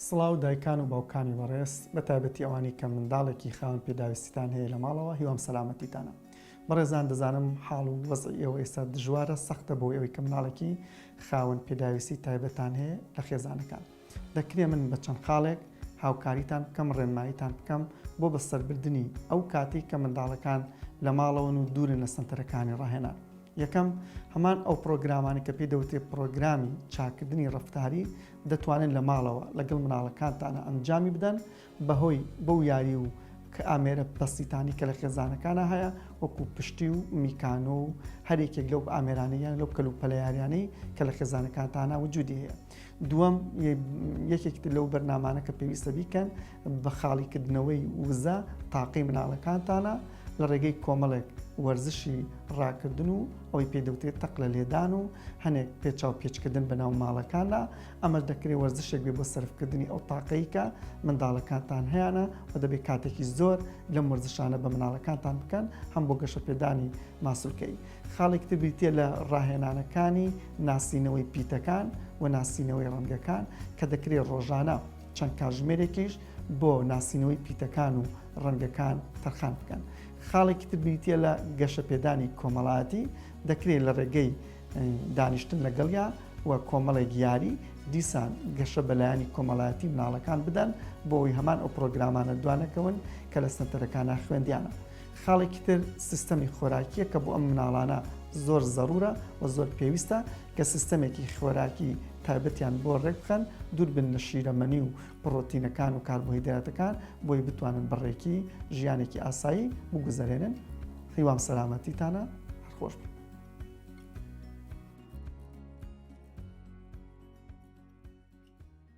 سڵاو دایکان و باوکانی بەڕێز بەتایبەتی ئەوانەی کە منداڵێکی خاوەن پێداویستیتان هەیە لە ماڵەوە هیوام سەلامەتیتانە بەڕێزان دەزانم حاڵ و وەزعی ئێوە ئێستا دژوارە سەختە بۆ ئەوی کە مناڵێکی خاوەن پێداویستی تایبەتان هەیە لە خێزانەکان دەکرێ من بە چەند خاڵێک هاوکاریتان بکەم ڕێنماییتان بکەم بۆ بەسەربردنی ئەو کاتی کە منداڵەکان لە ماڵەوەن و دوورن لە سنتەرەکانی ڕاهێنان یەکەم، هەمان ئەو پڕۆگرامانە کە پێی دەوترێت پڕۆگرامی چاککردنی ڕەفتاری، دەتوانن لە ماڵەوە لەگەڵ مناڵەکانتانا ئەنجامی بدەن، بەهۆی بەو یاری و ئامێرە بەسیتانەی کە لە خێزانەکانا هەیە، وەکو پشتی و میکانۆ و هەر یەکێک لەو ئامێرانەی یان لەو کەلوپەلە یاریانەی کە لە خێزانەکانتانا وجودی هەیە. دووەم یەکێک لەو بەرنمانە کە پێویستە بیکەن بە خاڵیکردنەوەی وزە تاقی مناڵەکانتانە لە ڕێگەی کۆمەڵێک وەرزشی ڕاکردن و ئەوی پێدەوتێت تەق لە لێدان و هەنێک پێچاو پێچکردن بە ناو ماڵەکاندا ئەمەش دەکرێت وەرزشێک بێ بۆ سرفکردنی ئەو تاقەیکە منداڵەکانتان هەیەە و دەبێت کاتێکی زۆر لەم وەرزشانە بە مناڵەکانتان بکەن هەم بۆ گەشە پێدانی ماسولکەی. خاڵێکی تر بریتییە لە ڕاهێنانەکانی ناسینەوەی پیتەکان و ناسینەوەی ڕەنگەکان کە دەکرێت ڕۆژانە چەند کاژمێرێکیش بۆ ناسینەوەی پیتەکان و ڕەنگەکان تەرخان بکەن خاڵێکی تر بریتییە لە گەشە پێدانی کۆمەڵایەتی دەکرێت لە ڕێگەی دانیشتن لەگەڵیا و کۆمەڵێک یاری دیسان گەشە بەلایانی کۆمەڵایەتی مناڵەکان بدەن بۆی هەمان ئەو پرۆگرامانە دوانەکەون کە لە سنتەرەکانە خوێندیانە خاڵێکی تر سیستەمی خۆراکیە کە بۆ ئەم مناڵانە زۆر زەڕورە و زۆر پێویستە کە سیستەمێکی خۆراکی تایبەتیان بۆ ڕێکخەن دووربن لە شیرەمەنی و پڕۆتینەکان و کاربۆهیدراتەکان بۆی بتوانن بڕێکی ژیانێکی ئاسایی بگوزەرێنن هیوام سەلامەتیتانە هەرخۆش بن